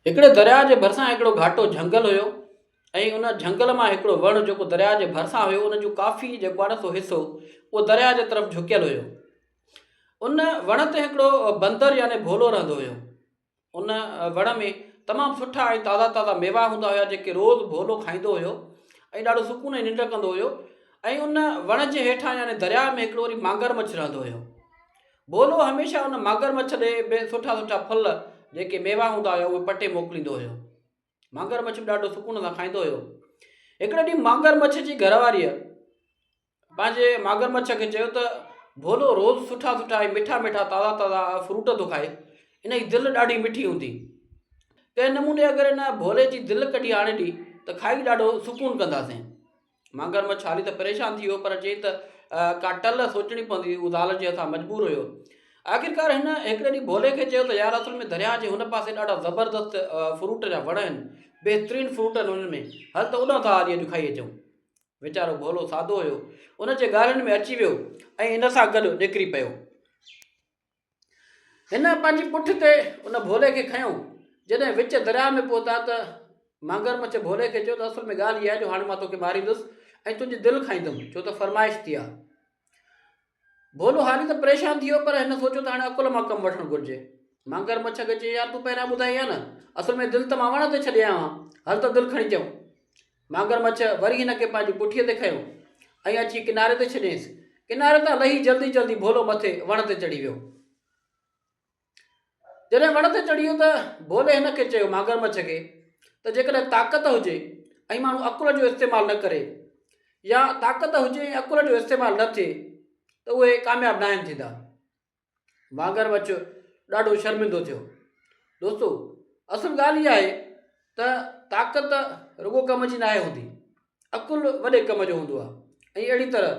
هڪڙي درياء جي ڀرسان هڪڙو گهاٽو جهنگل هيو ۽ ان جهنگل مان هڪڙو وڻ جيڪو درياء جي ڀرسان هيو ان جو ڪافي جيڪو آهي نه سو حصو اهو درياء جي طرف جهڪيل هيو ان وڻ تي هڪڙو بندر يعني ڀولو رهندو هيو ان وڻ ۾ تمام سٺا ۽ تازا تازا ميوا هوندا هيا جيڪي روز ڀولو کائيندو هيو ۽ ڏاڍو سڪون ۽ ننڊ ڪندو هيو ۽ ان وڻ جي هيٺان يعني درياء ۾ هڪڙو وري مانگر مڇ رهندو هيو ڀولو هميشه ان مگرمڇ ڏي به سٺا سٺا ڦل جيڪي ميوا هوندا هيا اهي پٽي موڪليندو هيو. مگرمڇ به ڏاڍو سڪون سان کائيندو هيو. هڪڙي ڏينهن مگرمڇ جي گهر واريء پنهنجي مگرمڇ کي چيو ته ڀولو روز سٺا سٺا ۽ مٺا مٺا تازا تازا فروٽ ٿو کائي ان جي دل ڏاڍي مٺي هوندي ڪنهن نموني اگر ان ڀولي جي دل ڪڍي آڻي ڏي ته کائي ڏاڍو سڪون ڪنداسين. مانگر مڇ هاري ته پريشان ٿي ويو پر چيائين ته ڪا ٽل سوچڻي پوندي هو ذال جي هٿان مجبور هيو آخرڪار هن هڪڙي ڏينهن ڀولي کي چيو ته يار اصل ۾ درياهه جي هن پاسي ڏاڍا زبردست فروٽ جا وڻ آهن بهترين فروٽ آهن انهن ۾ هل ته اوڏانهن ٿا هلي اڄ کائي اچون ويچارو ڀولو سادو هيو ان جي ڳالهين ۾ اچي ويو ۽ ان سان گڏ نڪري پيو هن پنهنجي پٺ تي ان ڀولي کي کنيو. جڏهن وچ درياء ۾ پهتا ته مگرمڇ ڀولي کي چيو ته اصل ۾ ڳالهه اها آهي جو هاڻي مان توکي ماريندس ۽ تنهنجي دل کائيندم ڇو ته فرمائش ٿي آهي. ڀولو هاري ته پريشان ٿي ويو پر هن سوچيو ته هاڻي عقل مان ڪم وٺڻ گهرجي. مگرمڇ کي چيائين يار تون پهريان ٻڌائي ها نه اصل ۾ دل ته مان وڻ تي ڇڏي آيو آهيان هل ته دل کڻي چئون. مانگر مڇ وري هن کي پنهنجي پٺيء تي کنيو ۽ اچي ڪناري تي ڇڏيائينس. ڪناري تان لهي جلدي جلدي ڀولو مٿي وڻ تي چڙهي ويو. جڏهن وڻ تي چڙهي ويو ته ڀولي هن کي چيو، مانگر مڇ کي، ته جيڪڏهن طاقت هجي ۽ ماڻهو عقل جو استعمال نه ڪري يا طاقت هجي ۽ عقل جو استعمال نه ٿئي ته اهي ڪامياب ناهن ٿيندا. واگهر وچ ڏاڍو شرمندو ٿيو. دوستو اصل ڳالهه اها آهي ته طاقت رڳو ڪم جي ناهي هوندي عقل وڏي ڪم جو هوندو آهي ۽ اهڙي طرح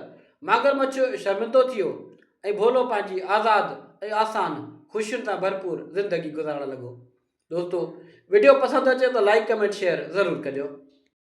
ماگر مڇ شرمندو ٿيو ۽ ڀولو پنهنجي آزاد ۽ آسان خوشين سان ڀرپور زندگي گذارڻ لڳو دوستو وڊيو پسند اچي ته لائيڪ ڪمينٽ شيئر ضرور ڪجو.